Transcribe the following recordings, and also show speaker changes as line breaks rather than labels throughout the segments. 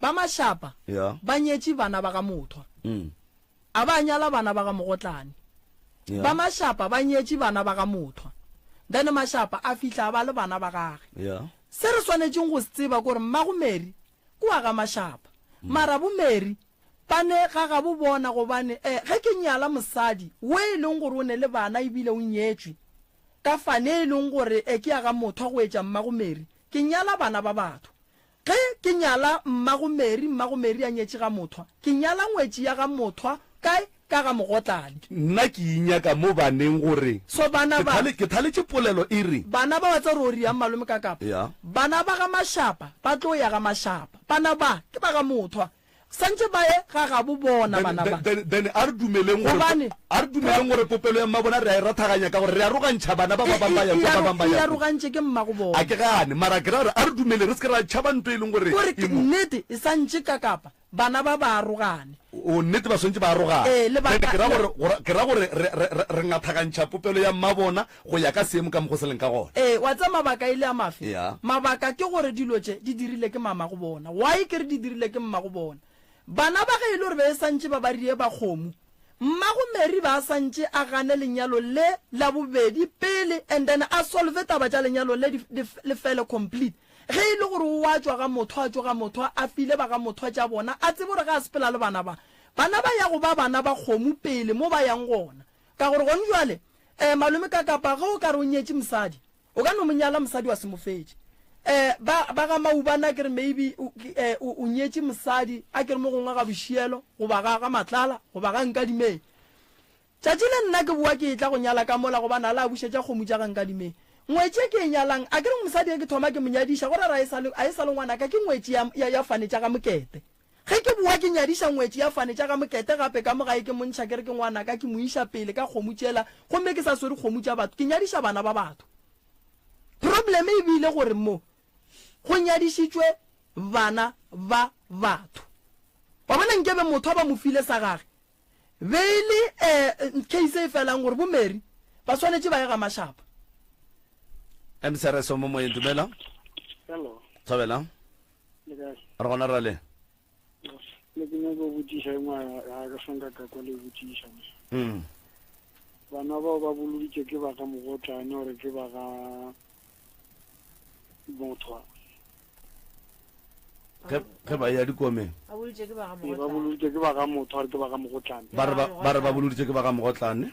Ba mašapa Yeah. ba nyetše bana ba ga Mothwa. Mm. A ba nyala bana ba ga Mogotlane. Yeah. Ba mašapa ba nyetše bana ba ga Mothwa. Then mašapa a fihla a ba le bana ba gage. Yeah. Se re swanetšeng go se tseba ke gore mmago Mary ke wa ga mašapa. Mara bo Mary ba ne ga ga bo bona gobane eh, ge ke nyala mosadi wo e leng gore o ne le bana ebile o nyetšwe ka fane e leng gore eh, ke ya ga Mothwa go etša mmago Mary, ke nyala bana ba batho. Ge ke nyala mmago Mary, mmago Mary a nyetše ga Mothwa. Ke nyala ngwetši ya ga Mothwa, kae, ka ga Mogotladi. Nna ke inyaka
mo baneng gore, So bana ke ba. thale, ke
thaletše polelo
e re. Bana ba wa tsa ruri yang
malome ka kapa? Ya. Bana ba ga Mashapa ba tlo ya ga Mashapa. Bana ba, ke ba ga Mothwa. Santše ba e ga gabo bona, Then, bana then, ba. then, then a re dumeleng
gore, Gobane, a re dumeleng gore popelo ya mmabona re a e rathaganya ka gore re arogantšha bana ba ba E, bang ba e, ya e, kua, ba aro, bang ba e ya kua. arogantše ke mmago A
bona. ke gane, mara
ke
ra
gore a re dumeleng re se ke ra tšhaba nto e leng gore Kore e ke mo. nnete, e
santše ka kapa bana ba ba arogane. O nnete ba swantše
ba arogane. Ee, lebaka, Then ke ra le. gore, gore, ke ra gore re, re, re, re ngathagantšha popelo ya mmabona Go ya ka seemo ka mokgo se leng ka gona. Ee, wa tseba mabaka e
le a mafe? Ya. Mabaka ke gore dilo tše di dirile ke mamagobona. Why ke re di dirile ke mmagobona? Bana ba ge e le gore be e santše ba ba rie ba kgomo, mmago Mary ba a santše a gane lenyalo le la bobedi pele and then a solve taba tša lenyalo le di, di, le fele complete. Ge e le gore o a tšwa ga Mothwa a tšo ga Mothwa, a file ba ga Mothwa tša bona, a tsebe gore ge a sepela le bana ba, bana ba ya go ba bana ba kgomo pele mo ba yang gona. Ka gore gone bjale Eh, malome ka kapa ge o ka re o nyetše mosadi, o ka no mo nyala mosadi wa semofetše. Eh, ba, ba ga Maubane a ke re maybe o, eh, o, o nyetše mosadi a ke re mo gongwe ga Bošielo, goba ga, ga Matlala, goba ga Nkadimeng. Tšatši le nna ke boa ke etla go nyala ka mola gobane a la a bušetša kgomo tša ga Nkadimeng. Ngwetši e ke e nyalang, a ke re mosadi e ke thoma ke mo nyadiša, go ra re a e sa le, a e sa le ngwanaka, ke ngwetši ya, ya, ya fane tša ga Mokete. Ge ke bowa ke nyadiša ngwetši ya fane tša ga Mokete gape ka mo gae ke mo ntšha ke re ke ngwanaka ke mo iša pele ka kgomo tšela gomme ke sa swere kgomo tša batho ke nyadiša bana ba batho. Problem e bile gore mo go nyadišitšwe bana ba batho. Wa bona nkebe motho a ba mo file sa gage be e le um case e felang gore bo Mary ba swanetše ba ye ga Mashaba. Msrs.
Omomoyeng dumelang.
Hello. Thobela.
le kae re gona ra le le
ke nyaka go botšiša e ngwa ga ke sanka ka kwa le botšiša me mm. bana bao ba boloditše ke ba ga mogotlane gore ke ba ga mothwa
ge ba ya dikomeng
ba boloditše ke ba ga mogotlane ba re ba
boloditše ke ba ga mogotlane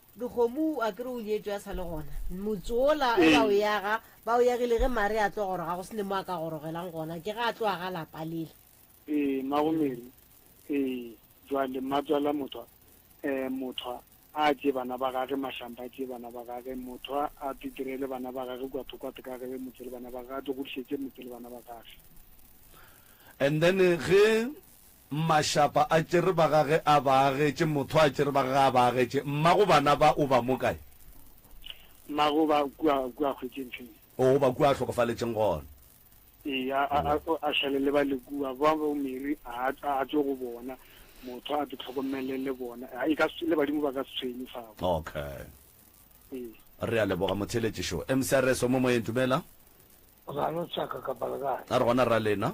Dikgomo a
ke re o nyetšwe a sa le gona. Motse wola ge ba o yaga, ba o yagile ge Mary a tlo goroga go se ne mo a ka gorogelang gona, ke ge a tloga ga lapa lele. Ee, mmago
Mary. Ee, bjale mmatswala Mothwa, ee, Mothwa a tšee bana ba gage, Mahlampa a tšee bana ba gage, Mothwa a titirele bana ba gage kua thoko a tekagele motse le bana ba gage, a tlo godišetše motse le bana ba gage.
And then ge Mmašapa a tšere ba ga ge a ba agetše, Motho a tšere ba ga ge a ba agetše, Mma go bana ba o ba mo kae?
Mma go ba kua, kua a hwetšeng feng? O go ba kua a
hlokofaletšeng gona. Ee, a, a,
a, a šale le ba le kua, ba bo Mary a, a, a tšwe go bona, Motho a te hlokomele le bona, a, e ka se, le badimo ba ka se tshwenye fao. Okay. Ee.
Re a leboga motheeletši šo. MCRS o mo moyeng, dumela. Ga no tsaka kapa le kae? A re gona rra lena.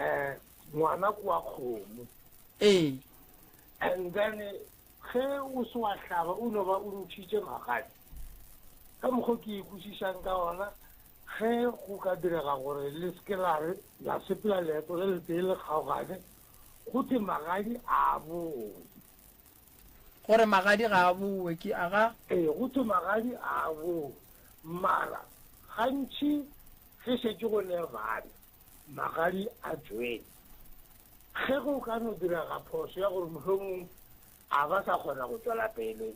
um ngwana ke wa kgomo Ee. and then ge o se wa hlaba o no ba o ntšhitše magadi ka mokgwa ke ikwešišang ka ona ge go ka direga gore le seke la re la sepela leeto le letee le kgaogane go the magadi a boe
gore magadi ga a boe ke a ga ee go the magadi
a boe mara gantšhi ge šetše go ne bana Magadi a Joele, ge go ka no direga phoso ya gore mohlomong a ba sa kgona go tšwela pele,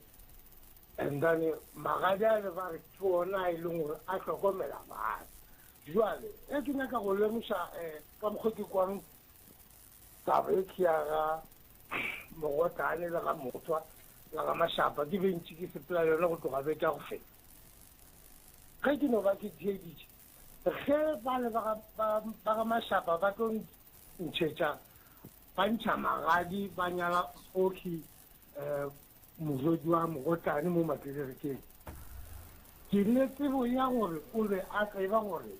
and then magadi ale ba re ke ona a e leng gore a hlokomela bana. Jwale ge ke nyaka go lemoša um ka mokgwa ke kwang taba e ke ya ga Mogotane le ga Mothwa le ga Mashapa, ke bentše ke sepela le yona go tloga beke ya go feta. Ge ke no ba ke theeditše Ge bale ba ga, ba, ba ga Mashapa ba tlo ntšhetša, ba ntšha magadi, ba nyala Oki, um, morwedi wa Mogotlane mo Makelerikeng, ke ne tsebo ya gore o be a tseba gore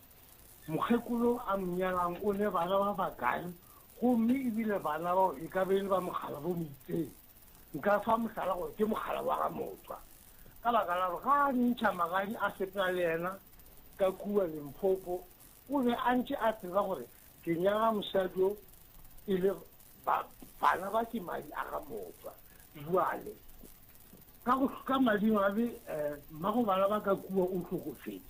mokgekolo a mo nyalang o ne bana ba bakae, gomme ebile bana bao e ka be e le ba Mokgalabo Moitseng. Nka fa mohlala gore ke mogala wa ga Motshwa, ka baka la gore ga a ntšha magadi a sepela le yena ka kua Limpopo, o be a ntše a tseba gore ke nyala mosadi yo e le ba, bana ba ke madi a ga Motshwa. Bjale, ka go, ka madimabe, eh, mmago bana ba ka kua o hlokofetše,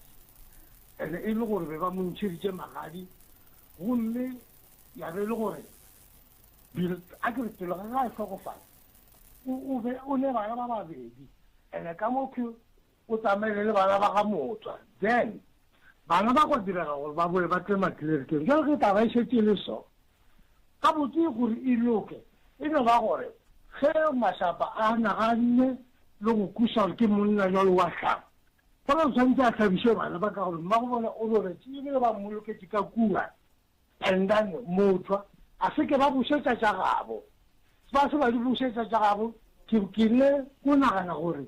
ene e le gore be ba mo ntšheditše magadi, gomme ya be e le gore Bilt a ke re pelo ga ga e hlokofale, o, o be o le bana ba babedi, ene ka mo ke o tsamaile le bana ba ga Motswa. Then, bana ba gwa direga gore ba bowe ba tle maklerikeng. Bjale ge taba e šetše e le so, gabotse gore e loke, e no ba gore ge Mashapa a naganne le go kweša gore ke monna bjalo wa hlaba, fela o swanetše a hlabiše bana ba ka gore mmagobona o robetše e bile ba mmoloketše ka kua. Brendan, Moutlwa, a se ke ba bušetša tša gabo. Ba se ba di bušetša tša gabo. Ke kile ko nagana gore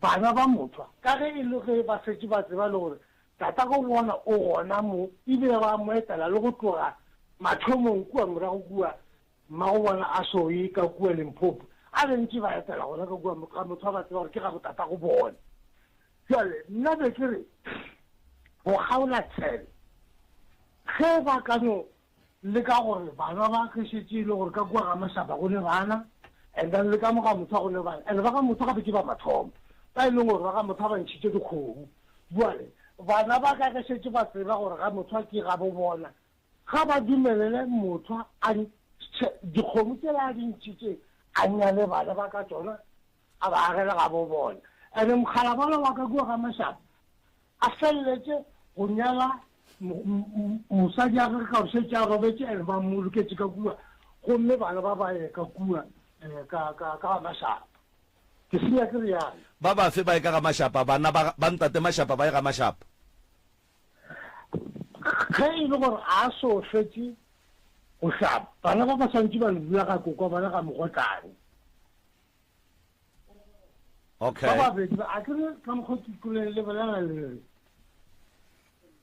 bana ba Moutlwa, ka ge e le ge ba šetše ba tseba le gore tatagobona o gona mo, e bile ba mo etela le go tloga mathomong kua morago kua, Mmagobona a šo e ka kua Limpopo, a be ntše ba etela gona ka kua, ga motho a ba tseba gore ke gabotatagobone. Bjale nna be ke re, Go kgaola tshele, ge ba ka no leka gore bana ba ge šetše e le gore ka kua ga Mashaba go ne bana, and then le ka mo ga Mothwa go ne bana, and ba ga Mothwa gape ke ba mathomo ba e leng gore ba ga Mothwa ba ntšhitše dikgomo. Bjale bana ba ka ge šetše ba tseba gore ga Mothwa ke gabobona, Ga ba dumelele motho a ntšhe dikgomo tsela a di ntšhitše, a nyale bana ba ka tšona, a ba agele gabobona. And mokgalabana wa ka kua ga Mashaba a feleletše go nyala mosadi ya gage ka gore šetše a robetše and ba mmoloketše ka kua, gomme bana ba ba ye ka kua ka ga Mashaba. Ke senya ke realo. Ba bafe ba ye ka ga
Mashaba? Bana ba ntate Mashaba ba ye ga Mashaba?
Ge e le gore a so fetše go hlapa, bana ba ba swantše ba lebola ga kokwa bona ga mogotlane.
Ba babedi ba, a
ke re ka mokgwa ke tloleng le bolela le re,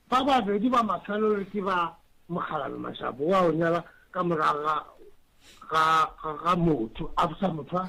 ba babedi ba mafelelo ke ba Mokgalabje Mashaba wa go nyala ka morago ga, ga, ga, ga motho, after motho a,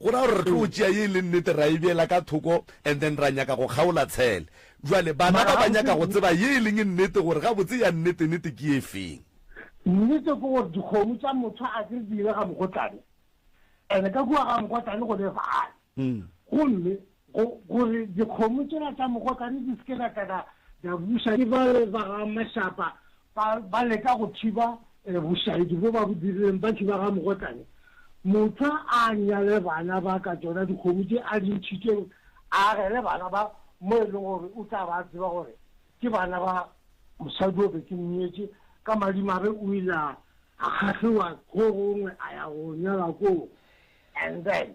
Go ra gore re tlo tšea ye e leng nnete ra e beela ka thoko and then ra nyaka go kgaola tshele. Bjale bana ba ba nyaka go tseba ye e leng nnete gore gabotse ya nnete-nete ke e feng. Nnete
ke gore dikgomo tša motho a ke re di ile ga mogotlane and ka kua ga mogotlane go ne vale gomme Go, gore dikgomo tšela tša mogotlane di se ke d'a tla d'a, d'a buša. Ke bale ba ga Mashapa ba, ba leka go thiba eh, bošaedi bjo ba bo dirileng, bantši ba ga mogotlane. Mothwa a nyale bana ba ka tšona dikgomo tše a di ntšhitšeng, a agele bana ba, mo e lego gore o tla ba a tseba gore ke bana ba mosadi o be ke mnyetše. Ka madimabe o ile a, a kgahliwa kgorong a ya go nyala koo. And then,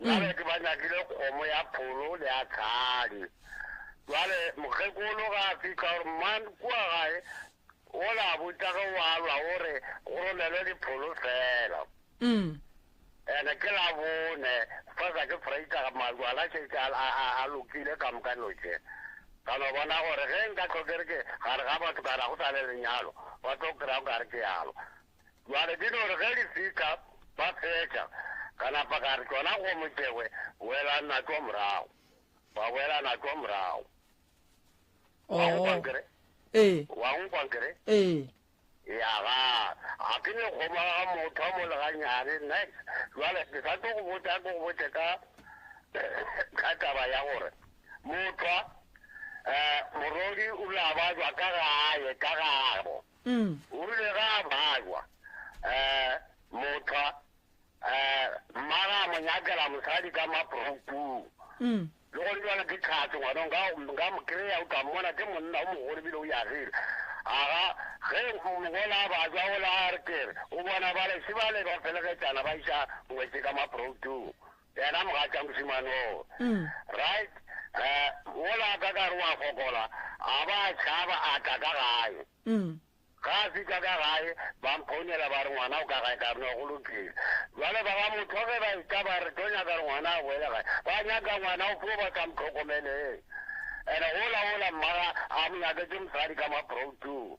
Bareki ba nyakile kgomo ya pholo le ya tlhadi. Jwale mokgekolo ga a fihla gore man kua gae o la botša ge wa lwa o re go romelwe dipholo fela. Mm. Ene ke la bone fa sa ke freita ga majwala šetše a, a, a, a lokile ka moka notše. Ka no bona gore ge nka tlhokere ke gare ga batho kana go sa le lenyalo ba tlo kry-a o kare ke yalo. Bjale di no re ge di fihla, ba fetša, ka napa ka re, Tšona go Motšegwe, boelang natšwa morago. Ba boela natšwa morago. Wa Oo. nkwa ke re? Ee. Wa nkwa ke re? Ee. Ya ga, ga ke ne kgomo ya ga motho a mo le ganyane, next. Bjale ke sa tlo go botša, ke go botše ka, ka taba ya gore, mothwa, eh, morodi o la ba jwa ka gae, ka gabo. O rile ge a bajwa, motho mmagwe a mo nyakela mosadi ka maproupung. Le gona bjale ke tlhatse ngwana, nka nka mo kry-a, o tla mmona, ke monna o mogolo ebile o yagile. Aga ge mogolo a bajwa o la a re kere o bona bale se bale ba felegetšana ba iša ngwetše ka maproutong. Yena mogatša mošemane oo. Right. Uh, mola ka ka re wa fokola, a ba a tšhaba a tla ka gae. Ga a fitla ka gae, ba mphonela ba re ngwana o ka gae ka rena go lokile. Jwale ba ba motho ge ba ita ba re tlo nyaka re ngwana a boele gae. Ba nyaka ngwana o fo ba sa mtlhokomeleng. Ene ola ola mmaga a mo nyaketse mosadi ka maproutong.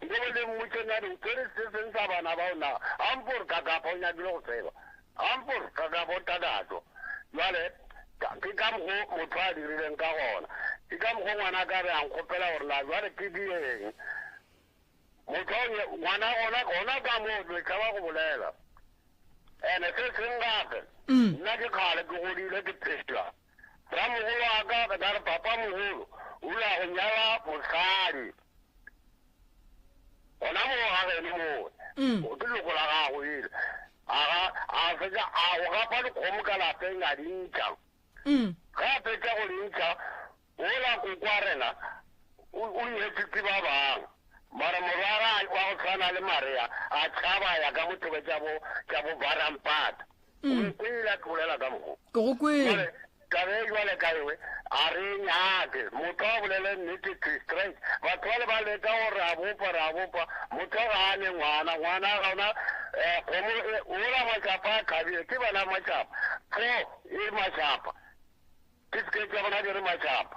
Mo go le mmotše na re tšere se seng sa bana bao na? Ampor ka kapa o nyakile go tseba? Ampor ka kapa o takatšwa? Bjale, ka, ke ka mokgo motho a dirileng ka gona. Ke ka mokgo ngwana ka be a nkgopela gore na bjale ke di eng. Motho a nye, ngwana gona, gona ka moo, le tšhaba go bolela. Ene se seng gape, nna ke kgale ke godile ke phela. Ramogolo wa ka, ke tla re, Papamogolo o ile wa go nyala mosadi. Gona moo ga geno moo, mm. o ke loko la gago ele. Aga, a fetša a go gapa dikgomo ka lapeng a di ntšha. Mm. Ga a fetša go di ntšha, ola kokwa rena o nyetswe ke ba bang mara morwara wa go tshwana le marea a tšhaba ya ka mothobe tša bo tša bo barampata mm. o ile a ke bolela ka mokgo ke go kwele
tabe jwale
ka ewe a re nyake motho a bolele nnete tistret batho ba le ba leka go re a bopa re a bopa motho ga a ne ngwana ngwana ga ona um kgomo e, ola matsapa a kgabile ke bana matsapa fo e matsapa ke sekete ya gona ke re matsapa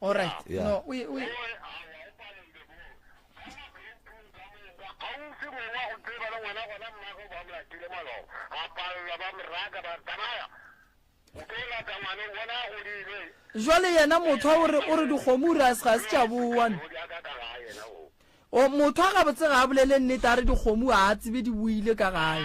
All right.
Yeah. No, we, we.
jwale yena motho a ore o re dikgomo re a se ga se tša bowane o motho a gabotse ga a bolele nnete a re dikgomo a a tsebe di boile ka gae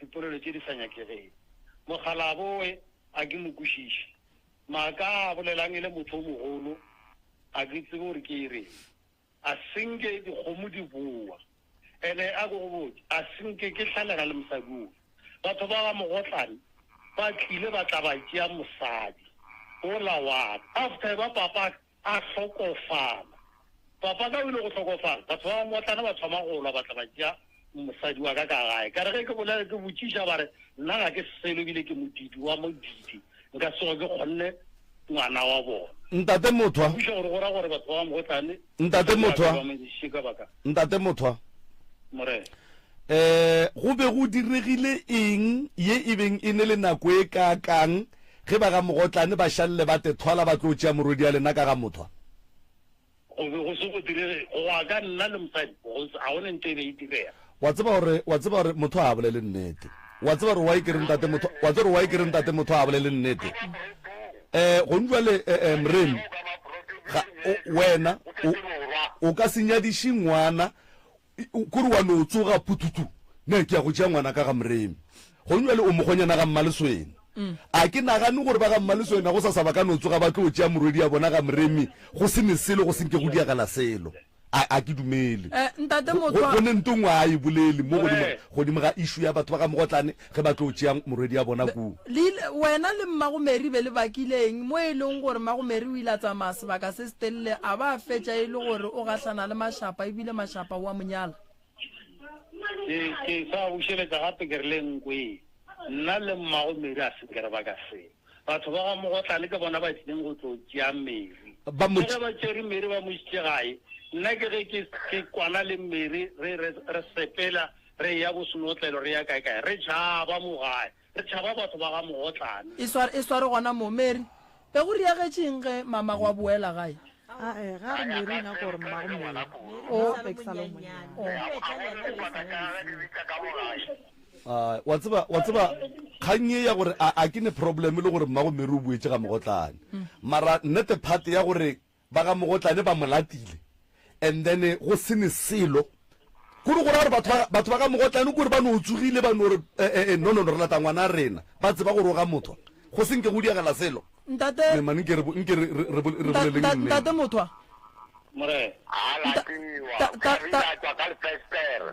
Dipolelo tše di sa nyakegego. Mogala a bowe a ke mo kwešiše. Maaka a a bolelang e le motho o mogolo, a ke tsebe gore ke e reng. A se nke dikgomo di bowa. Ene a ko go botše, a se nke ke hlalega le mosadi ofe. Batho ba ba mogotlane ba tlile ba tla ba tšea mosadi ola wa ka. After ba papaka, A hlokofala. Papa ka o ile go hlokofala, batho ba bamotlana ba thoma go lwa ba tla ba tšea mosadi wa ka ka gae. Ka re ge ke bolela ke botšiša ba re, Nna ga ke selo ebile ke modiidi wa modiidi, nka se tsoge ke kgonne ngwana wa bona. Ntate Mothwa. Ke
kwešiša gore go ra gore batho
ba bamotlane ba dira gore ba mo ntšhe ka baka.
Ntate Mothwa.
Morena. Eh,
go be go diregile eng ye e beng e ne le nako e ka kang ge ba ga Mogotlane ba šalle ba tethwala ba tlo tšea morwedia lena ka ga Mothwa? Go
be go se go direge go wa ka nna le mosadi go se a gone nte e be e direga. Wa tseba gore wa
tseba gore Mothwa ha bolele nnete. Wa tseba gore wa e ke re Ntate Mothwa wa tseba gore wa e ke re Ntate Mothwa ha bolele nnete. eh gong jwale eh, eh, mrene ga o, wena o, o ka se nyadiše ngwana i- o- kore wa no tsoga pututu ne ke ya go tšea ngwana ka ga mreme gong jwale o mogonyana ga mmaleswena a ke nagane gore ba ga mmaleswena go sa sa ba ka no tsoga ba tlo tšea morwedi ya bona ga mreme go se ne selo go senke go diagala selo a a ke dumele Eh, ntate Go- Mothwa- go
ne ntong wa
a e bolele mo godimo Eh. godimo ga issue ya batho ba ga mogotlane ge ba tlo tšea morwedi ya bona koo Le ile- wena le
mmagomeri be le bakileng mo e leng gore mmagomeri o ile a tsamaya sebaka se se telele a ba a fetša e le gore o gahlana le mashapa ebile mashapa wa monyala ke ke
sa bušeletsa gape ke re le nko e nna le mmago meri a se ke re ba ka se Batho ba ga Mogotlane ke bona ba tlileng go tlo tšea Mary. Ba mo. Le ge ba tšere Mary ba mo išitše gae, nna ke ge ke, ke kwana le Mary re, re, re sepela re eya bo senotlelo re ya kae-kae. Re tšhaba mo gae. Re tšhaba batho ba ga Mogotlane. E sware, e sware gona
moo. Mary, Be go diagetše eng ge Mamagwe a boela gae?
A ega re ne re nyaka gore
mmago Mary o be ke sa le monnyane. A wa tseba, wa tseba, kgang ye ya gore a, a ke ne problem e le gore mmago Mary o boetše ga Mogotlane. Mara nnete part ya gore ba ga Mogotlane ba mo latile and then go se ne selo. Kuri go ra gore batho ba, batho ba ka mogotlane kuri ba no tsogile ba no re, eh, eh, eh, no, no, no, re lata ngwana a rena. Ba tseba gore o ga mothwa. Go se nke go diagela selo. Ntate. Me, man, nke re,
nke re, re,
re, re boleleng nne. Ntate, ntate mothwa.
Morena. A latiwa. Ka, ka, ka. Ka re latwa ka lefestere.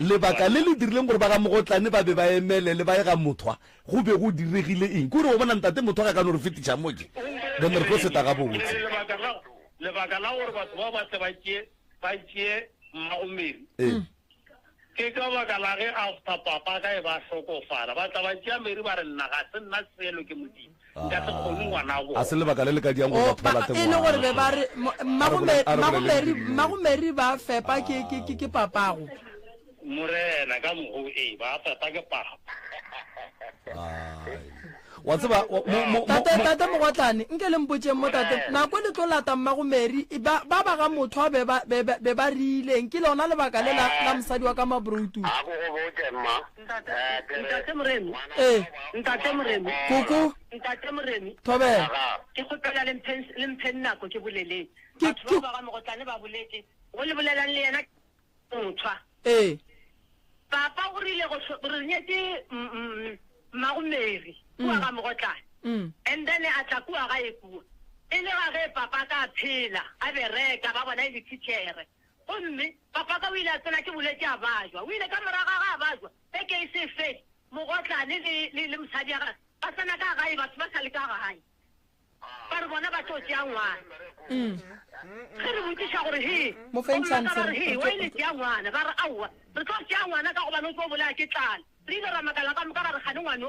Lebaka le le dirileng gore ba ga Mogotlane ba be ba emelele ba ye ga Mothwa go be go diregile eng? Ke gore wa bona ntate Mothwa ga ka no re fetiša mo tše, then re tlo seta gabotse. Lebaka la, lebaka
la gore batho ba ba tle ba tšee, ba tšee mmago Mary, Ee. ke ka baka la ge after papa ka e ba hlokofala, ba tla ba tšea Mary ba re nna ga se nna selo ke Modimo. Nka se kgone, ngwanabo. Ga se lebaka le le ka diang gore
batho ba lahle ngwana. E le gore be ba re,
Mmagomeri ba fepa ke papago. Morena, ka mogo e ba fepa ke papa.
Wa tseba, Tate
Mogotlane, nke le mpotšeng mo tate, nako e le tlo lata Mmagomeri, ba ba ga motho a be ba rileng, ke lona lebaka le la mosadi wa ka Mabroutu. A ko go botše, mma. Ntate Moremi.
Ee. Ntate Moremi. Koko. Ntate Moremi. Thobela.
Ke kgopela le mphe
le mphe nako ke boleleng. Ke ke ba ga mogotlane ba boletse. Go le bolelang le yena motshwa. Ee. Papa o rile go re nyetse mmago Mary kwa ga mogotlane. And then a tla kwa ga e kwa. E le ga ge papa ka phela a bereka ba bona e le teacher. Gomme Pafaka o ile a tsena, ke boletše, a bajwa. O ile ka morago ga ge a bajwa, beke e se e fele, mogotlane le, le, le mosadi wa gagwe ba tsena ka gae, batho ba sa le ka gae, ba re bona ba tlo tšea ngwana. Ge re botšiša gore, He, Mo feng gomme a ka chance, ba re, re- He, re wa tlo- ile tšea ngwana. Ba re, Aowa, re tlo tšea ngwana ka gobane o tlo bolaya ke tlala. Re ile ra makala ka moka, ra re, Kgane ngwano.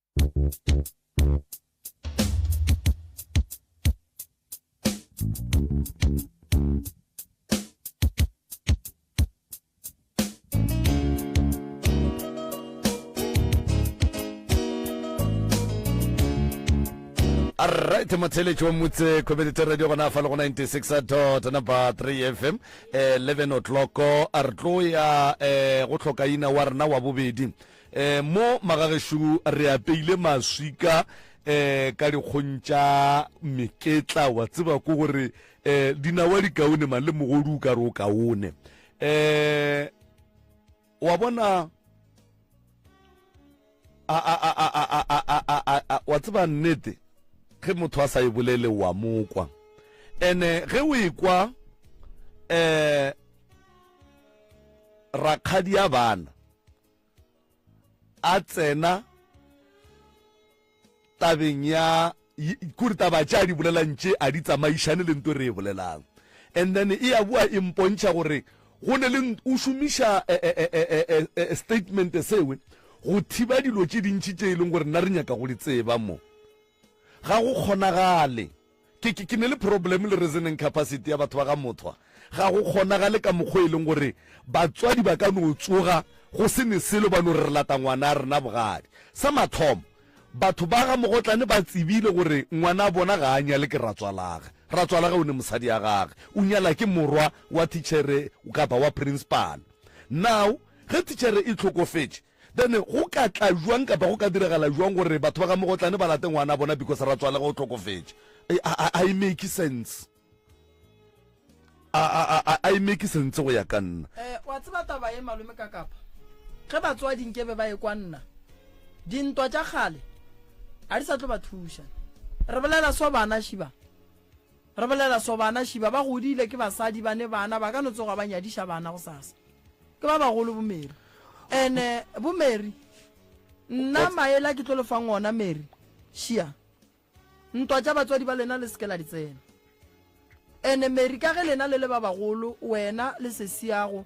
alright motheletši wa motse community radio gona fa le go 96 dot number 3 fm 11 eh, o'clock a re tlo ya um go tlhokaina wa rena wa bobedi E, mo magagešo re apeile maswika e, ka dikgong tša meketla, wa tseba ko gore e, dinawa di kaone mang le mogodu o ka re o kaone. E, wa bona wa tseba nnete ge motho a sa e bolele wa mokwa ene ge o ekwa eh rakgadi ya bana a tsena tabeng ya kore taba tše a di bolelang tše a di tsamaišane le nto re e bolelang and then e ya boa e mpontšha gore go ne le o šomiša eh, eh, eh, statement sewe go thiba dilo tše dintši tše e leng gore nna re nyaka go di tseba mo ga go kgonagale Ke, ke, ke ne le problem le reasoning capacity ya batho ba ga Mothwa. Ga go kgonagale ka mokgwa e leng gore batswadi ba ka no tsoga go se ne selo ba no re re lata ngwana a rena bogadi. Sa mathomo, batho ba ga Mogotlane ba tsebile gore ngwana a bona ga a nyale ke ratswalage. Ratswalage o ne mosadi ya gage, o nyala ke morwa wa thichere kapa wa principal. Now, ge thichere e tlhokofetše, Then go ka tla jwang kapa go ka diragala jwang gore batho ba ga Mogotlane ba late ngwana bona because ra tswalega o tlhokofetše? Ha e make sense. A e make sense go ya ka nna. Eh, wa tseba taba
e malome ka kapa? Ge batswadi nke be ba e kwa nna. Dintwa tša kgale a di sa tlo ba thuša. Re bolela so bana shiba. Re bolela so bana šiba ba godile ke basadi bane bana ba ka no tsoga ba nyadiša bana go sasa. Ke ba bagolo bo Mary. Ene bo Mary nna maela ke tlo le fang ona Mary šia ntwa tša batswadi ba lena le seke la di tsena. Ene Mary ka ge lena le le ba bagolo wena le sesiago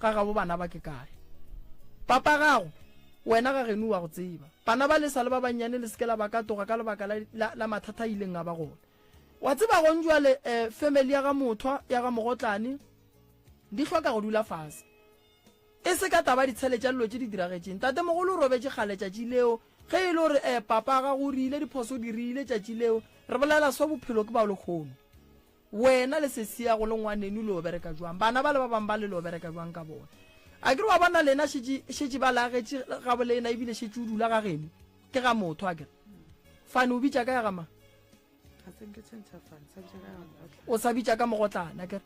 Ga gabo bana ba ke kae? Papa gago? Wena ga geno o a go tseba. Bana ba le sa le ba bannyane le se ke la ba katoga ka lebaka la, la, la mathata a ileng a ba gona. Wa tseba gong jwale, eh, family ya ga Mothwa, ya ga Mogotlane, di hloka go dula fase. E se ka taba ditshele tša lilo tše di diragetšeng. Tatemogolo o robetše kgale tšatši leo, ge e le gore, eh, papa gago o rile diphoso o di rile tšatši leo, re bolela so, bophelo ke bao lekgono. Wena le sesiago le ngwanenu le yo bereka jwang? Bana bale ba bang bale le yo bereka jwang ka bona? Akere wa bona lena šetše, šetše ba le agetše gabolena ebile šetše o dula ga geno? Ke ga motho akere? Fane o bitša ka ya ga mang? Ga se nke tshwentšha fane, sa bitša ka ya ga mogotlana. O sa bitša ka mogotlana akere?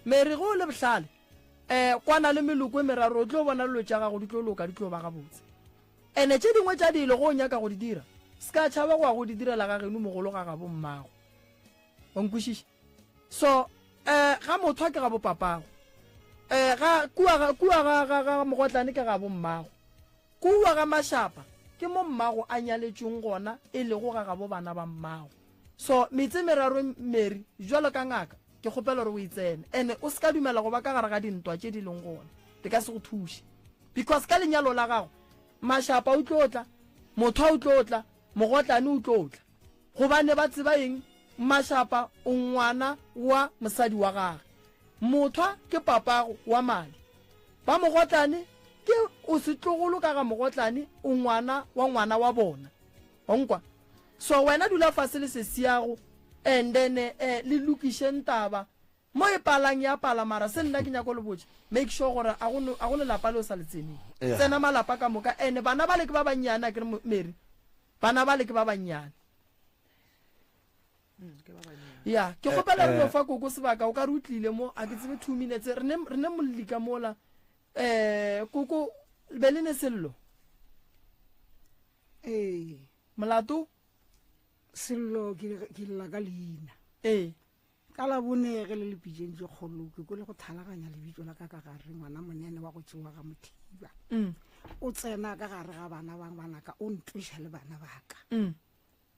Mary ge o le bohlale, um kwana le meloko e meraro o tlo bona lelo tša gago di tlo loka di tlo ba gabotse. Ene tše dingwe tša dilo ge o nyaka go di dira, se ka tšhaba go ya go di direla ga geno mogolo ga gabo mmago. wa nkwešiša so um ga mothwa ke ga bopapago um ga kua ga kua ga ga ga mogotlane ke ga bommago kua ga mashapa ke mo mmago a nyaletšweng gona e lego ga gabo bana ba mmago so metse meraro mary jalo ka ngaka ke kgopela gore o e tsene ene o se ka dumela go ba ka gare ga dintwa tše di leng gona di ka se go thuše because ka lenyalo la gago mashapa o tlo tla mothwa o tlo tla mogotlane o tlo tla Gobane ba tseba eng? Mashapa o ngwana wa mosadi wa gage. Mothwa ke papago wa madi. Ba Mogotlane ke o setlogolo ka ga Mogotlane o ngwana wa ngwana wa bona. Wa nkwa? So wena dula fase le sesiago and then eh, le lokišeng taba Mo e palang ya pala mara se nna ke nyako le botša make sure gore a go a go lelapa le o sa le tseneng tsena malapa ka moka ene bana bale ke ba bannyane a ke re Mary bana bale ke ba bannyane ya ke kgopela re no fa koko sebaka o ka re o tlile mo a ke tsebe two minutes re ne re ne molli ka mola eh koko be le ne sello
ee molato sello ke ke lla ka leina ee Ka
Labone ge le le pitšeng tše kgolo, ke kwele go thalaganya lebitso la ka ka gare, ngwana monene wa go tšewa ga Mothiba. Mm. O tsena ka gare ga bana bang banaka, o ntloša le bana baka. Mm.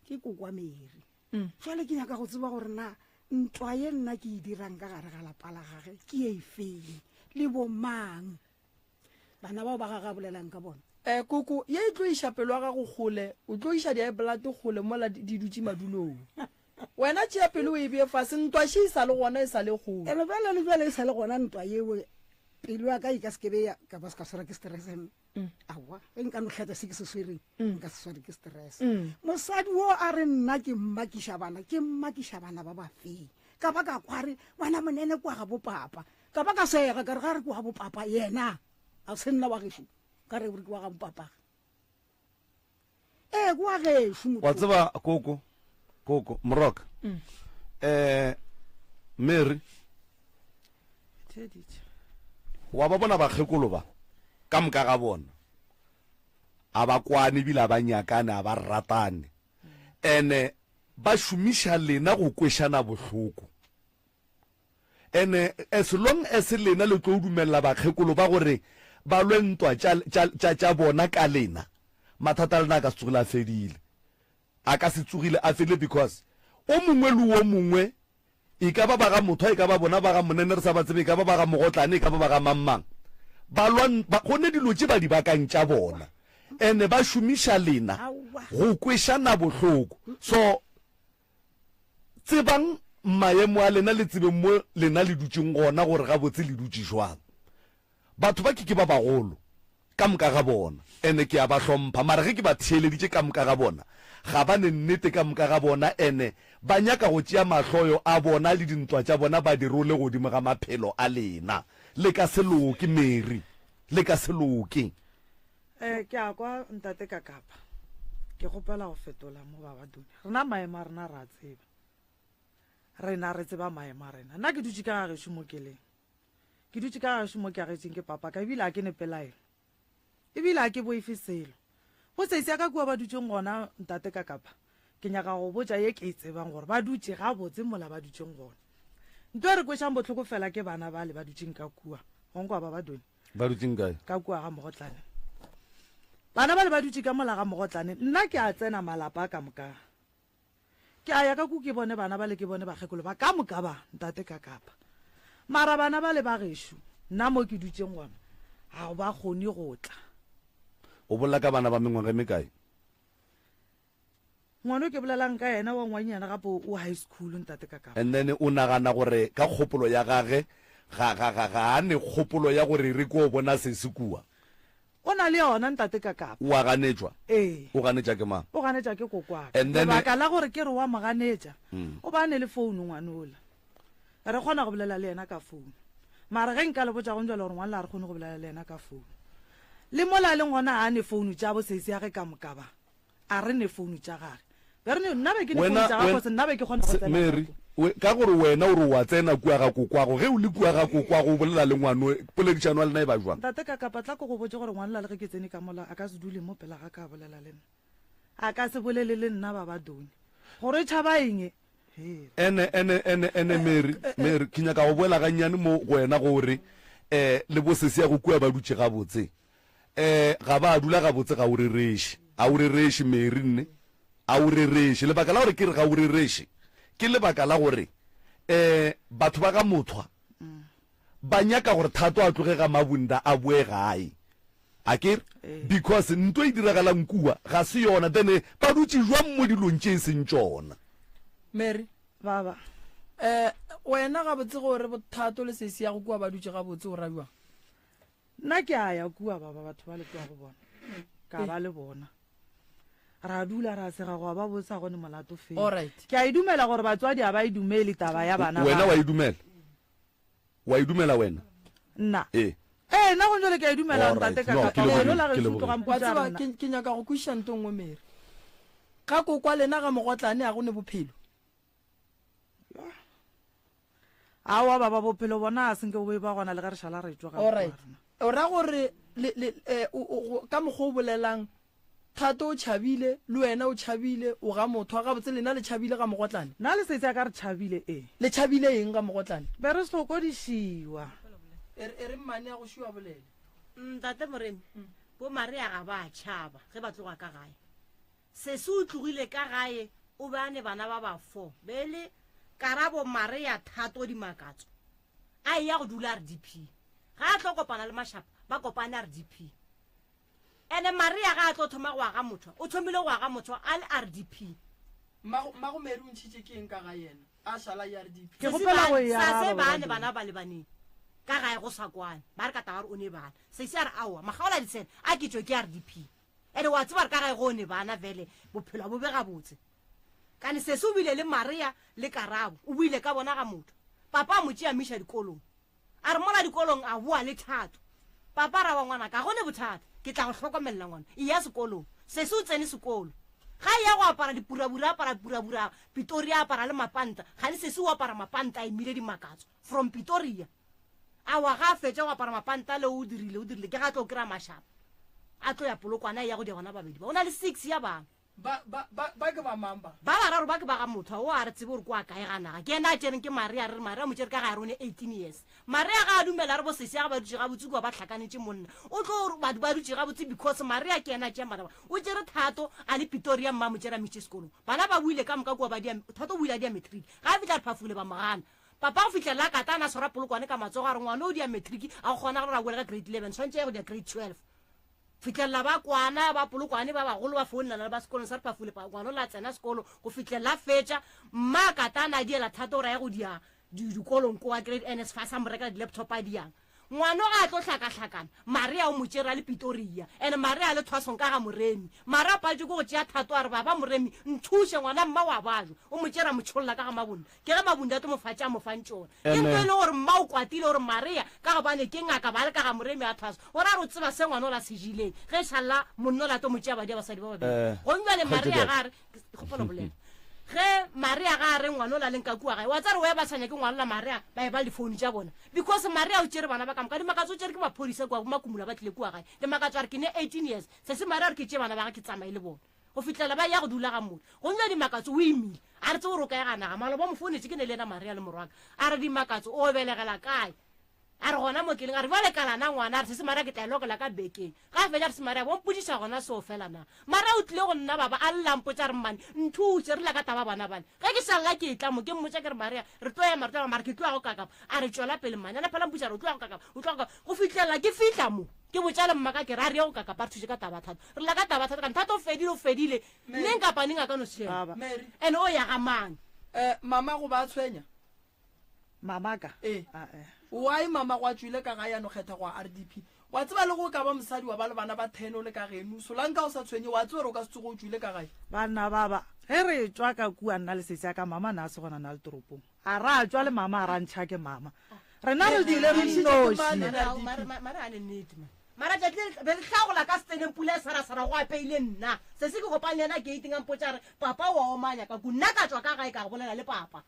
Ke kokwa Mary. Mm. Jwale ke nyaka go tseba gore na ntwa ye nna ke e dirang ka gare ga lapa la gage ke e feng le bomang. bana bao ba gage a bolelang ka bona um koko ye e tlo
iša pelo ya gago kgole o tlo iša diaepolate kgole mola di dutše madulong wena tšea pelo o e bee fase ntwa še e sa le gona e sa le kgole ebe bjale le bjale e sa
le gona ntwa yeo pelo ya ka e ka sekebe ya ka ba se ka swara ke stresseng mm. awa e nka no tlhatsa se ke se swereng mm. nka se sware ke stress mm. mosadi o a re nna ke mmakiša bana ke mmakiša bana ba bafeng ka ba ka kware ngwana monene kwa ga bopapa Ka ba ka sega, ka re ga re ke wa bopapa yena, a se nna wa gešo, ka re gore ke wa ga bopapa. Ee, ke wa gešo motho. Wa tseba koko,
koko, moroka, um, Mary, wa ba bona bakgekolo ba, ka moka ga bona, a ba kwane ebile a ba nyakane, a ba ratane, ene ba šomiša lena go kwešana bohloko. And as long as lena le tlo dumelela bakgekolo ba gore ba lwe ntwa tša, tša, tša, tša bona ka lena, mathata a lena a ka se tsogile a fedile. A ka se tsogile a fedile because o mongwe le o mongwe, e ka ba ba ga Mothwa, e ka ba bona ba ga Monene re sa ba tsebe, e ka ba ba ga Mogotlane, e ka ba ba ga mang-mang, ba lwa, ba, go ne dilo tše ba di bakang tša bona and ba šomiša lena go kwešana bohloko. So, Tsebang maemo a lena le tsebeng mo lena le dutšeng gona gore gabotse le dutše jwang. Batho ba ke ke ba bagolo ka moka ga bona, ene ke a ba hlompha, mara ge ke ba theeleditše ka moka ga bona, ga ba ne nnete ka moka ga bona, ene ba nyaka go tšea mahloyo a bona le dintwa tša bona ba di role godimo ga maphelo a lena. Le ka se loke, Mary. Le ka se loke. Eh,
ke a kwa ntate ka kapa ke kgopela go fetola mo baba dune rena maemo a rena ra tseba rena re tseba maemo a rena nna ke dutse ka gageso mo keleng ke dutse ka gageso mo ke agetseng ke papa ka ebile a ke ne pelaelo ebile a ke boefe selo go seise ya ka kua ba dutseng gona ntate ka kapa Ke nyaka go botša ye ke e tsebang gore ba dutše gabotse mola ba dutšeng gona. Nto e re kwešang bohloko fela ke bana bale ba dutšeng ka kua. Wa nkwa ba ba Doni? Ba dutšeng kae? Ka
kua ga Mogotlane.
Bana bale ba dutše ka mola ga Mogotlane. Nna ke a tsena malapa a ka moka. Ke a ya ka ku ke bone bana bale ke bone bakgekolo ba ka moka ba ntate ka kapa. Mara bana bale ba gešo nna mo ke dutšeng gona ga ba kgone go tla. O
bolela ka bana ba mengwaga e mekae?
ngwana o ke bolelang ka yena wa ngwannyana gape o high school ntate ka kapa and then o nagana gore
ka kgopolo ya gage ga ga ga ga a ne kgopolo ya gore re ko bona se se kua o na le
yona ntate ka kapa wa ganetšwa
ee o ganetša ke mang o ganetša ke kokwaka
And then- lebaka la gore
ke re wa mo
ganetša o ba a ne le founu ngwanola Re kgona go bolela le yena ka founo. Mara ge nka le botša gong jalo gore ngwanla a re kgone go bolela le yena ka founo. Le mola a leng gona ga a ne founo tša bo seisi ya ge ka moka ba. A re ne founo tša gage. Be re ne, nna be ke ne founo tša gagwe cause nna be ke kgona go tsena ka kua. Mary, ka
gore wena o re o a tsena kua ga kokwago, ge o le kua ga kokwago o bolela le ngwano, poledišano ya lena e ba jwang? Ntate Kakapa, tla ke go
botše gore ngwanla le ge ke tsene ka mola a ka se dule mo pela ga ka a bolela le nna. A ka se bolele le nna, Babadoni, gore e tšhaba eng? Ene, ene, ene, ene,
Mary, Mary, ke nyaka go boela gannyane mo go wena gore le bosese ya go kua ba dutše gabotse. Ga ba a dula gabotse. Ga o rereše. Ga o rereše, Mary, nne. Ga o rereše. Lebaka la gore ke re ga o rereše ke lebaka la gore batho ba ga Mothwa ba nyaka gore Thato a tloge ga Mabunda a boe gae akere Ee. because nto e diragalang kua ga se yona then eh, ba dutse jwang mo dilong tše e seng tšona mary
baba
eh
wena gabotse gore bothato le sesi ya go kua ba dutše gabotse o rabiwang nna
ke a ya kua baba batho ba le kua go bona ka ba le bona ra dula ra sega goa ba botsa gone molato fela Alright. ke a e
dumela gore
batswadi a ba e dumele taba ya bana wena ba. wa e dumela
O a e dumela wena? Nna?
Ee. Ee, nna gone jwale ke a e dumela, All right. Ntate, ka, No, ka, ke ka lebogile, lona ke gaešo,
lebogile.
tlogang
Wa putša tseba, rena. ke,
ke nyaka
go kwešiša
nto
nngwe, Mary. Ga ko kwa lena ga mogotlane a go ne bophelo.
Aowa, baba, bophelo bona ga se nke bo be ba gona le ge re šala re tšwa ga All ko right.
rena. O ra
gore,
le, le,
eh,
o, o, go, ka mokgwa o bolelang, Thato o tšhabile, le wena o tšhabile, o ga Mothwa. Gabotse le na le tšhabile ga Mogotlane? Na le setse a ka re tšhabile?
Ee. Le tšhabile eng
ga Mogotlane? Be re
sokodišiwa. Er,
ere mmane a go šiwa bolele. Ntate Moremi,
bo Maria ga ba a tšhaba ge ba tloga ka gae. Sesi o tlogile ka gae o be a ne bana ba ba four, be e le Karabo, Maria, Thato, Dimakatso. A eya go dula RDP. Ga a tlo kopana le Mashaba, ba kopane RDP. Ene Maria ga a tlo thoma go aga motho, o thomile go aga motho a le RDP. Mmago, mmago
Mary o ntšhitše ke eng ka ga yena, a šala ERDP? Ke kgopela go e araba
Sase bane bana ba
lebaneng ka gae go sa kwane, ba re ka tagare o ne bana. Sase a re aowa, Makgaola Ditshena a ke tšwe ke RDP. Ene wa tseba gore ka gae go o ne bana bjale bophelo ga bo be gabotse. Kane Sase o bile le Maria le Karabo, o buile ka bona ga motho. Papa a mo tšea a mo iša dikolong. A re mola dikolong a boa le Thato. Papa ra wa ngwana ka, go ne bothata, ke tla go hlokomelela ngwana, eya sekolong. Sesi o tsene sekolo. Ga eya go apara dipurabura, apara purabura, Pitoria apara le mapanta, kgane sesi o apara mapanta a emile dimakatso, from Pitoria. Awa ga a fetša go apara mapanta ale o dirile, o dirile, ke ga tlo kry-a mashaba, a tlo ya Polokwane a eya go dia bana babedi ba, o na le six ya bana.
Ba, ba, ba, ba ke ba mang ba? Ba bararo ba ke ba ga
mothwa wo a re tsebe gore ko a kae ga naga. Ke yena a tšereng ke Maria, re re Maria mo tšere ka gare o ne 18 years. Maria ga a dumela a re bo sesya ga ba dutše gabotse kua ba hlakanetše monna. O tlo gore batho ba dutše gabotse because Maria ke yena a tšeyang bana ba. O tšere Thato a le Pitoria mma a mo tšere a mmitše sekolong. Bana ba boile ka moka kua ba dia, Thato o boile a dia matric. Ga a fihla re phafugile ba mo gana. Papa go fihlelela a kata a ne a tshwara polokwane ka matsogo a re ngwana o dia matric a go kgona gore a boele ka grade 11 tshwanetše a ye go dia grade 12. fihlelela ba kwana ba Polokwane ba bagolo ba founelana le ba sekolong sa Repafule pa ngwana o la tsena sekolo go fihlelela a fetša mma a katana a diela thata gore a ye go dia di dikolong ko wa grade ns fa sa mo rekela di-laptop a diang ngwano ga a tlo hlakahlakana marea o mo tšere a le pitoria and marea a le thwasong ka ga moremi mara a paletšwe ke go tšea thato a re baba moremi nthuše ngwana mma wa bajwa o mo tšere a mo tšholola ka ga mabonna Ke ge Mabundatu Mofatši a mo fang tšona. Ke ntho e lego gore mma o kwatile gore Maria ka gobane ke ngaka ba le ka ga Moremi a thwaso. O ra re o tseba se ngwana o la se jileng ge e šalla monna o la tlo mo tšea badia basadi ba babedi. Gong bjale Maria ga a re, Kgopela go bolela. Ge Maria ga a re ngwana o la le nka kua gae, wa tseba re wa e ba sa nyake ngwalola Maria ba e ba le difounu tša bona. Because Maria o tšere bana ba ka moka. Dimakatso o tšere ke maphodisa kua, bo Makumula ba tlile kua gae. Dimakatso a re ke ne 18 years. Sesi Maria o re ke tšee bana ba gage ke tsamaye le bona. go fihlela ba ya go dula ga modi go nywa dimakatso o imile a re tse gore o kae ga naga maloba mo founetse ke ne le ena maria le morwaka a re dimakatso o belegela kae a re gona mo keleng a re bjale kalana ngwana a re sese maria ke tla lokela ka bekeng ga fetša re se maria bompodiša gona seo fela na maria o tlile go nna baba a llampotsa re mmane nthutse re la ka taba bona bale ge ke sa lla ke etla mo ke mmotsa ke re maria re tlo ema re tlo mara ke tloago kakapa a re tšwela pele mmane ana phela mpotsa re o tloago kakapa o tloago go fihlelela ke fihla mo ke botša le mmaka ke re a re ye go kakapa re thuse ka taba thata Re lla ka taba thata kana thata o fedile o fedile neng kapa neng a ka no sheba. Baba. Mary. Ene o ya ga mang? Eh, mama go ba
tshwenya?
Mama ka? Eh. Ah, eh. Why
mama go a tšwile ka ga ya no kgetha go a RDP? Wa tseba le go ka ba mosadi wa ba le bana ba 10 o le ka genu, Solanka o sa tshwenye wa tseba re o ka se tsogo o tšwile ka gae. Banna baba,
ge re etšwa ka kua nna le setša ka mama na se gona na le toropong? A ra tšwa le mama a ra ntšha ke mama. Rena re di le re nnoši. Mara a
le nnete man. Mara tšatši le be re hlagola ka seteneng pula e sarasara go apeile nna. Sesi ke kopane le yena gating a mpotša re papa o a omanya ka ku nna ka tšwa ka gae ka bolela le papa.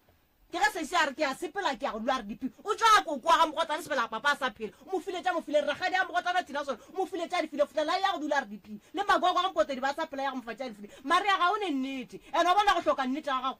Ke ge sesi a re ke a sepela ke ya go lwa re dipi o tšwa a koko wa ga mogotsana sebela papa a sa phela o mo file tša mo file re rakgadi ga mogotsana thina sone o mo file tša di file fotlela ya go dula re dipi le magogo ga mpotedi ba sa phela ya go mo fa tša di file Maria ga o ne nnete and wa bona go hloka nnete ga gago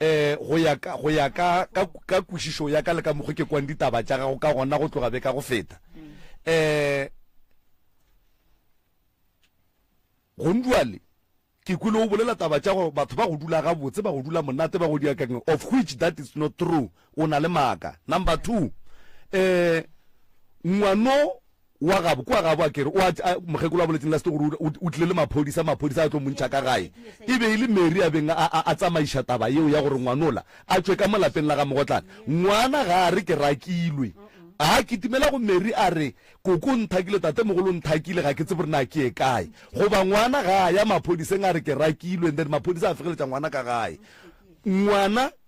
Ee, go ya ka, go ya ka, ka, ka kwešišo ya ka le ka mokgwa ke kwang ditaba tša gago ka gona go tloga be ka go feta. Ee, gonduale, ke kwile o bolela taba tša gore batho ba go dula gabotse, ba go dula monate, ba go dia ka eng, of which that is not true, o na le maaka. Number two, ee, ngwano, wa gabo kwa gabo a kere o a a mokgekolo a boletseng la sete gore o tlile le maphodisa maphodisa a tlo montšha ka gae e be e le Mary a beng a a a tsamaiša taba yeo ya gore ngwanola a tšwe ka mo lapeng la ga mogotlana ngwana ga a re ke rakilwe a kitimela go Mary a re koko nthakile tate mogolo nthakile ga ke tsebe gore na ke ye kae goba ngwana ga a ya maphodiseng a re ke rakilwe and then maphodisa a fegeletša ngwana ka gae ngwana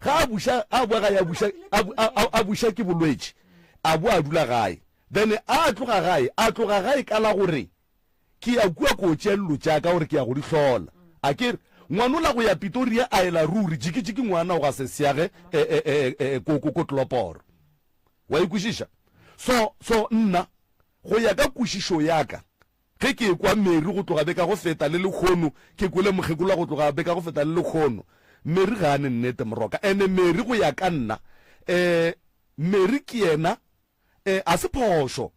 Ga a buša, a boa gae, a buša, a, a, a, a buša ke bolwetši, a boa a dula gae. Then a tloga gae, a tloga gae ka la gore, Ke ya kua ko tšea lilo tša ka gore ke ya go di hlola. A ke re, Ngwana o la go ya Pitoria a ela ruri, jikijiki ngwana o ga se seage e, e, e, e, e, ko, ko, ko Tloloporo. Wa e kwešiša? So, so nna, go ya ka kwešišo ya ka, Ge ke ekwa Mary go tloga beka go feta le lekhono, ke kwele mokgekolowa go tloga beka go feta le lekhono. Mary ga a ne nnete, Moroka. Ene Mary go ya ka nna, eh, Mary ke yena, eh, ga se phošo.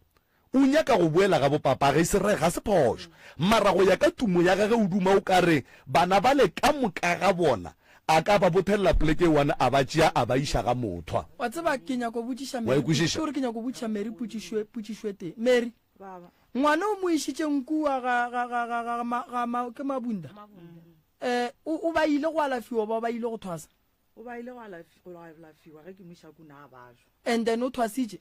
O nyaka go boela ga bopapagi, se re, ga se phošo. Mara go ya ka tumo ya gage o duma o ka re bana bale ka moka ga bona a ka ba bothelela poleke e one a ba tšea a ba iša ga Mothwa. Wa tseba, ke nyaka go
botšiša Mary, ke, ke gore ke nyaka go botšiša Mary potšišo, potšišo e tee. Mary. Ngwana o mo išitšeng kua ga, ga, ga, ga, ga, ma, ga ma, ke mabunda eh, o, o ba ile go alafiwa ba ba ile go thwasa o ba ile go
alafi- go alafiwa ge ke mošaku na bajo and then o thwasitše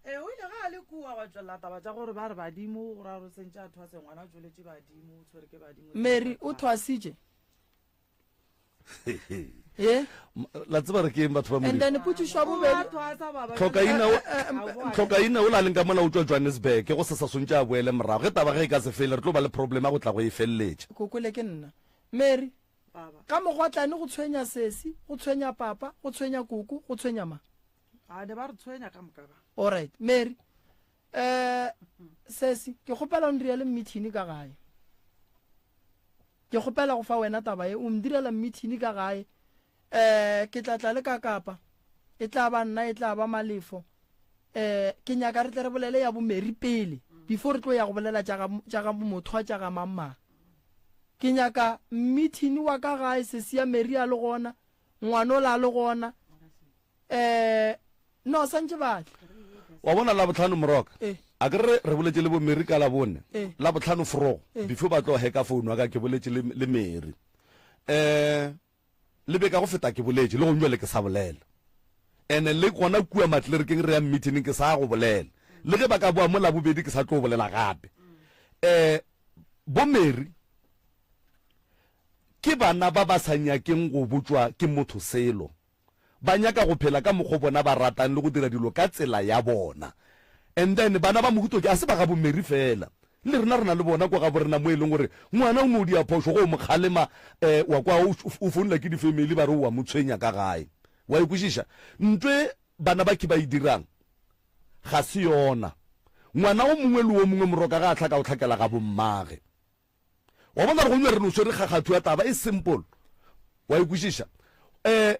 ee o
ile ga a le kua wa tšwelela taba tša gore ba re badimo go ra gore sentše a thwase ngwana a tšweletše badimo o tshwere ke badimo mary o thwasitše
ye la tseba re keng batho ba and then potšišo ya bobedi tlhokaina o la leng ka mona o tšwa johannesburg go se sa swantše a boele morago ge taba ge e ka se fele re tlo ba le problem ya go tla go e feleletša kokole ke nna
mary ka mogotlane go tshwenya sesi go tshwenya papa go tshwenya koko go tshwenya ma a ne ba re
tshwenya ka moka ba alright mary
Um, sesi, ke kgopela o ndirele mmithini ka gae. Ke kgopela go fa wena taba ye, o ndirela mmithini ka gae. Um, ke tla tla le ka kapa, e tla ba nna, e tla ba malefo. Um, ke nyaka re tle re bolele ya bomeri pele, before re tlo ya go bolela tša ga bomothwa tša ga mangmang. Ke nyaka mmithini wa ka gae, sesi ya meri a le gona, ngwanola a le gona, Eh, no, santše batle. Wa bona,
Labohlano, Moroka, Eh. a ke re re boletše le bo Mary ka Labone, Eh. Labohlano forogo, Eh. before ba tlo heka founu ya ka, ke boletše le, le Mary. Eh, le beka go feta ke boletše, le gong jwale ke sa bolela. Ene le gona kua matlerekeng re yang meeting ke sa go bolela. Le ge ba ka boa mo Labobedi ke sa tlo bolela gape. Eh, bo Mary, ke bana ba ba sa nyakeng go botšwa ke motho selo. Ba nyaka go phela ka mokgo bona ba ratang le go dira dilo ka tsela ya bona. And then bana ba mohuto tje a se ba gabo Mary fela. Le rena re na le bona kwa gabo rena mo e leng gore ngwana o no dia phošo go mo kgalema eh wa kwa o founela ke di family ba re o a mo tshwenya ka gae. Wa e kwešiša? Ntho e bana ba khe ba e dirang ga se yona. Ngwana o mongwe le o mongwe moroka ga a hlaka o hlakela gabo mmage. wa bona gore go nywa re no swere kgakgatho ya taba e simple wa ikwešiša um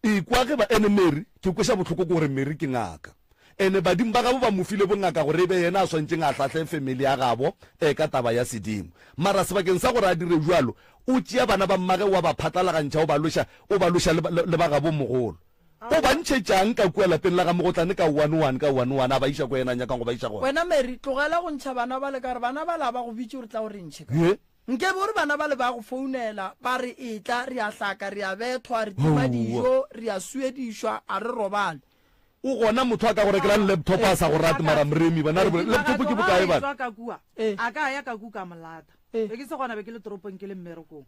ikwa ge ba ene mary ke kweša bohloko ke gore mary ke ngaka ene badimo ba gabo ba mo file bongaka gore e be yena a swantšeng a hlahle family ya gabo um ka taba ya sedimo mara sebakeng sa gore a dire jalo o tšea bana ba mmage wa ba phatlalagantšha o ba loša o ba loša le ba gabo mogolo O ba ntšhetša'ng ka kua lapeng la ga Mogotlane ka one-one, ka one-one? A ba iša kwa yena a nyakang go ba iša gona. Wena Mary, tlogela go
ntšha bana bale ka gore bana bale ga ba go bitše gore tla o re ntšhe ka. Ye? Nkebe o re bana bale ba go founela ba re etla, re a hlaka, re a bethwa, re tima dijo, re a suedišwa, a re robale. O gona
motho a ka go rekelang laptop a sa go rate? Mara Mremi, bana re bolele, laptop ke bokae bana? Ee. A ka
ya ka ku ka mo lata. Ee. Be ke se gona, be ke le toropong ke le mmerekong.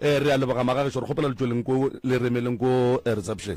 Ee, re a leboga magagešo, re kgopela le tšweleng ko le re emeleng ko eh, reception.